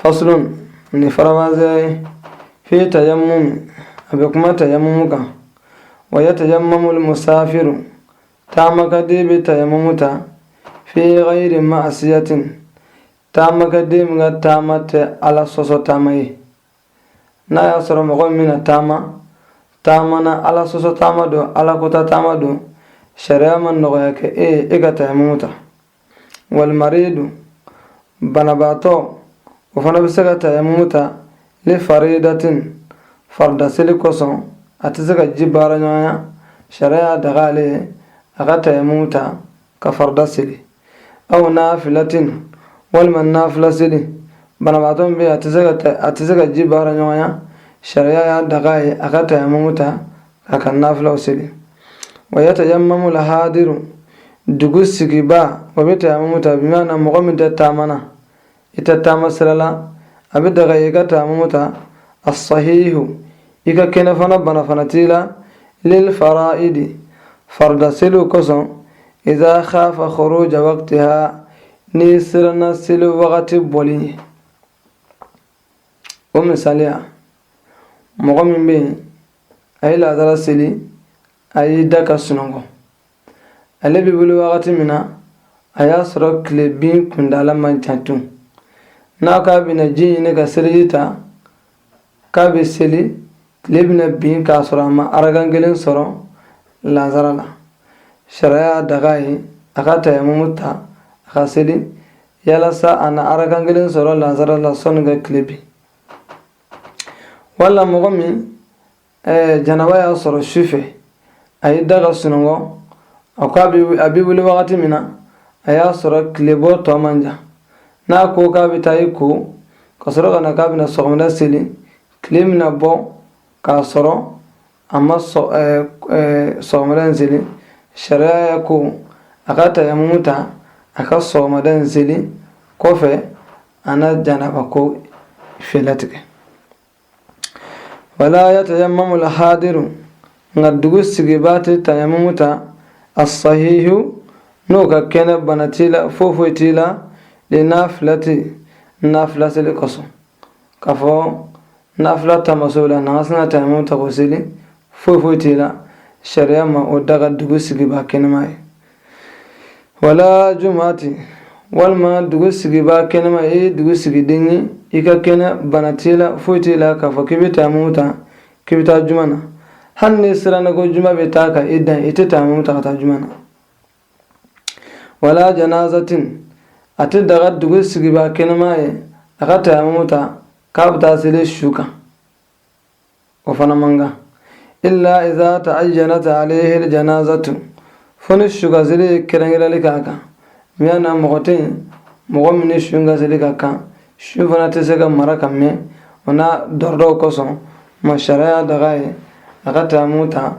faslun nin faranfasi fi tayammum a bɛ kuma tayammumu kan wa ya tayammamu musafiru taamakɛden bɛ tayammumu ta fi ghayri ma'asiyatin taamakɛden min ka taama tɛ ala sɔsɔ taama ye n'a y'a sɔrɔ mɔgɔ min na taama taama na ala sɔsɔ taama don ala kota taama don sariya ma nɔgɔya kɛ e ye e ka tayammumu ta walmariidu banabaatɔ o fana bɛ se ka tayamumu ta li faridatin farida seli kosɔn a tɛ se ka ji baara ɲɔgɔnya sariya y'a daga ale ye a ka tayamumu ta ka farida seli aw naafilatin walima naafila seli banabaatɔ min bɛ a tɛ se ka ji baara ɲɔgɔnya sariya y'a daga a ye a ka tayamumu ta a ka nafilaw seli wa yatayammamu lhadiru dugu sigibaa o bɛ tayamumu ta bimaana mɔgɔ min tɛ taama na i tɛ taama sira la a bɛ daga i ka tayamumu ta asahihu i ka kɛnɛ fana bana fana t'i la lil fara'idi farida seliw kosɔn iza khafa khuruja waqtiha n'i siranna seli wagati bɔli ɲɛ o misaliya mɔgɔ min bɛ yen a ye laadala seli a y'i da ka sunɔgɔ ale bɛ wuli wagati min na a y'a sɔrɔ tile bin kunda la man jan tun n'a k'a bɛna ji ɲini ka seliji ta k'a bɛ seli tile bɛna bin k'a sɔrɔ a ma arakan kelen sɔrɔ lansara la sariya y'a daga a ye a ka tayamumu ta a ka seli yalasa a na arakan kelen sɔrɔ lansara la sanni ka tile bin wala mɔgɔ min eh, janaba y'a sɔrɔ su fɛ a y'i da ka sunɔgɔ a ko a bɛ wuli wagati min na a y'a sɔrɔ tilebɔ tɔ man jan n'a ko k'a bɛ taa i ko ka sɔrɔ ka na k'a bɛna sɔgɔmada seli tile bɛna bɔ k'a sɔrɔ a ma sɔgɔmada in seli sariya y'a ko a ka tayamumu ta a ka sɔgɔmada in seli kɔfɛ a na janaba ko fɛɛrɛ tigɛ wala yatayammamu alhadiru nka dugu sigibaa tɛ tayamumu ta asahihu n'o ka kɛnɛ bana t'i la foyi foyi t'i la linafilati nafila seli kosɔn k'a fɔ nafila tamaso la n'an ka sin ka tayamumu ta k'o seli foyi foyi t'i la sariya ma o daga dugu sigibaa kɛnɛma ye wala jumati walima dugu sigibaa kɛnɛma i ye dugu sigiden ye i ka kɛnɛ bana t'i la foyi t'i la k'a fɔ k'i bɛ tayamumu ta k'i bɛ taa juma na hali n'i siranna ko juma bɛ taa ka i dan i tɛ tayamumu ta ka taa juma na walaa janaazatin a tɛ daga dugu sigibaa kɛnɛman ye a ka tayamumu ta k'a bɛ taa seli su kan o fana man kan illa iza ta'ayyanat alayhi aljanazatu fo ni su kan seli ye kɛrɛnkɛrɛnli k'a kan miya na mɔgɔ tɛ yen mɔgɔ min ni su kan seli ka kan su fana tɛ se ka mara ka mɛn o n'a dɔrɔdɔw kosɔn ma sariya daga a ye a ka tayamumu ta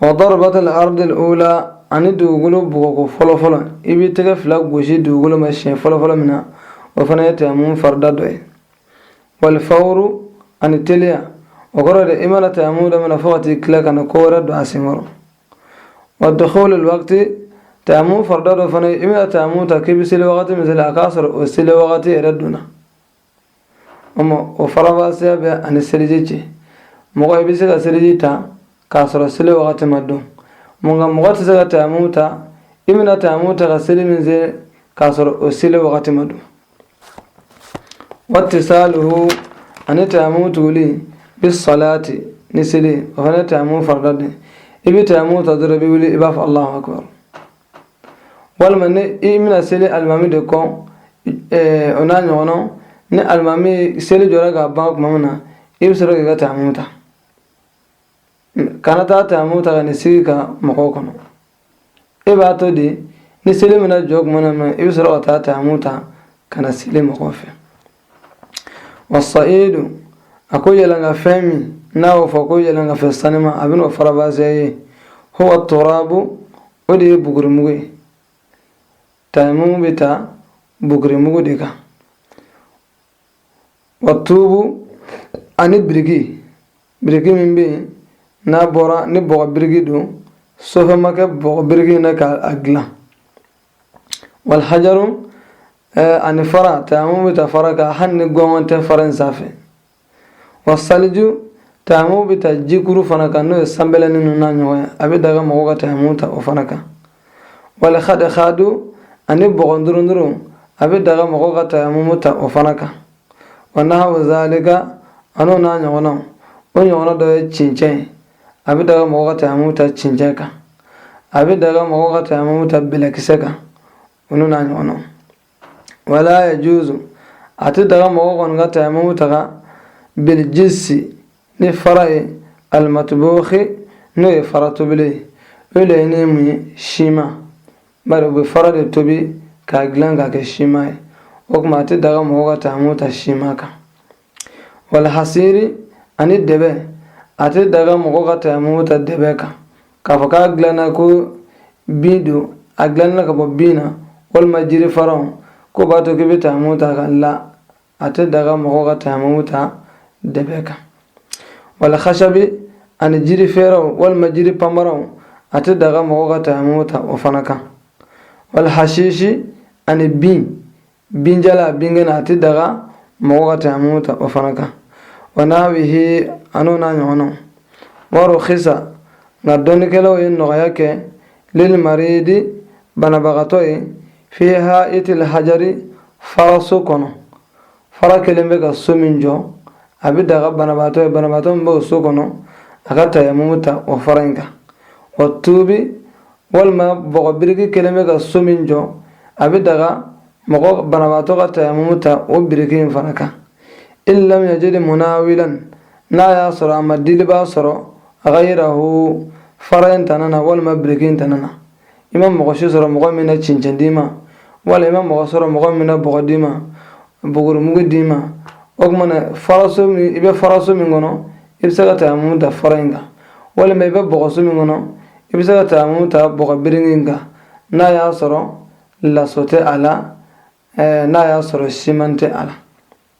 wa darabatul ardil ula ani dugukolo bugɔko fɔlɔ fɔlɔ i b'i tɛgɛ fila gosi dugukolo ma siɲɛ fɔlɔ fɔlɔ min na o fana ye tayamumu farida dɔ ye walifawuru ani teliya o kɔrɔ de i mana tayamumu daminɛ fo ka t'i tila kana ko wɛrɛ don a sen kɔrɔ wa dukulul wakti tayamumu farida dɔ fana i bɛna tayamumu ta k'i bɛ seli wagati min seli a k'a sɔrɔ o seli wagati yɛrɛ donna o farabasiya b'a ni seliji cɛ mɔgɔ i bɛ se ka seliji ta k'a sɔrɔ seli wagati ma don nka mɔgɔ tɛ se ka tayamu ta i bɛna tayamu ta ka seli min se k'a sɔrɔ o seli wagati ma don watisaluhu ani tayamu tuguli bi salati ni seli o fana tayamu farida de i bɛ tayamu ta dɔrɔn i bɛ wuli i b'a fɔ alahu akbar walima ni i bɛna seli alimami de kɔ o n'a ɲɔgɔnnaw ni alimami seli jɔra ka ban tuma min na i bɛ sɔrɔ k'i ka tayamu ta kana taa tayamu ta ka n'i sigi ka mɔgɔw kɔnɔ e b'a to de ni seli bɛna jɔ tuma min na i bɛ sɔrɔ ka taa tayamu ta ka na seli mɔgɔw fɛ wa sa'idu a ko yɛlɛnka fɛn min n'a y'o fɔ ko yɛlɛnka fɛn saniman a bɛn'o farabasiya ye huwa turabu o de ye bugurimugu ye tayamumu bɛ ta bugurimugu de kan wa tuubu ani biriki biriki min bɛ yen n'a bɔra ni bɔgɔ biriki don sɔrɔ fɛn ma kɛ bɔgɔ biriki na k'a dilan walhajaru ani fara tayamumu bɛ ta fara kan hali ni gɔngɔn tɛ fara in sanfɛ wasaliju tayamumu bɛ ta jikuru fana kan n'o ye sanbɛlɛnin ninnu n'a ɲɔgɔn ye a bɛ daga mɔgɔw ka tayamumu ta o fana kan walxadexadu ani bɔgɔ durundurun a bɛ daga mɔgɔw ka tayamumu ta o fana kan wa nahawu zalika an'o n'a ɲɔgɔnnaw o ɲɔgɔnna dɔ ye cincɛn ye a bɛ daga mɔgɔ ka tayamum ta cincɛn kan a bɛ daga mɔgɔ ka tayamum ta bɛlɛkisɛ kan olu n'a ɲɔgɔnnaw wala yajuzu a tɛ daga mɔgɔ kɔni ka tayamum ta ka bilijisi ni fara ye alimatubuhi n'o ye fara tobilen ye o laɲini ye mun ye siman bari u bɛ fara de tobi k'a dilan k'a kɛ siman ye o tuma a tɛ daga mɔgɔ ka tayamum ta siman kan wal hasiri ani dɛbɛ a tɛ daga mɔgɔ ka tayamumu ta dɛbɛ kan k'a fɔ k'a dilanna ko bin don a dilanna ka bɔ bin na walima jiri faraw ko b'a to k'i bɛ tayamumu ta ka la a tɛ daga mɔgɔ ka tayamumu ta dɛbɛ kan wal hasabi ani jiri fɛrɛnw walima jiri panbaraw a tɛ daga mɔgɔ ka tayamumu ta o fana kan wal hasisi ani bin binjalan binkɛnɛ a tɛ daga mɔgɔ ka tayamumu ta o fana kan wa nahawihi an'o n'a ɲɔgɔnnaw wa ruxisa nka dɔnnikɛlaw ye nɔgɔya kɛ lil maridi banabagatɔ ye fi ha'itil hajari faraso kɔnɔ fara kɛlen bɛ ka so min jɔ a bɛ daga banabagatɔ ye banabagatɔ min bɛ o so kɔnɔ a ka tayamumu ta o fara in kan wa tuubi walima bɔgɔ biriki kɛlen bɛ ka so min jɔ a bɛ daga mɔgɔ banabaatɔ ka tayamumu ta o biriki in fana kan in lam yajidi munawilan n'a y'a sɔrɔ a ma dilibaa sɔrɔ gayirahu fara in tana na walima biriki in tana na i ma mɔgɔ si sɔrɔ mɔgɔ min na cincɛn d'i ma wala i ma mɔgɔ sɔrɔ mɔgɔ min na bɔgɔ d'i ma buguri mugu d'i ma o tuma na faraso min i bɛ faraso min kɔnɔ i bɛ se ka tayamumu ta fara in kan walima i bɛ bɔgɔso min kɔnɔ i bɛ se ka tayamumu ta bɔgɔ biriki in kan n'a y'a sɔrɔ laso tɛ a la n'a y'a sɔrɔ siman tɛ a la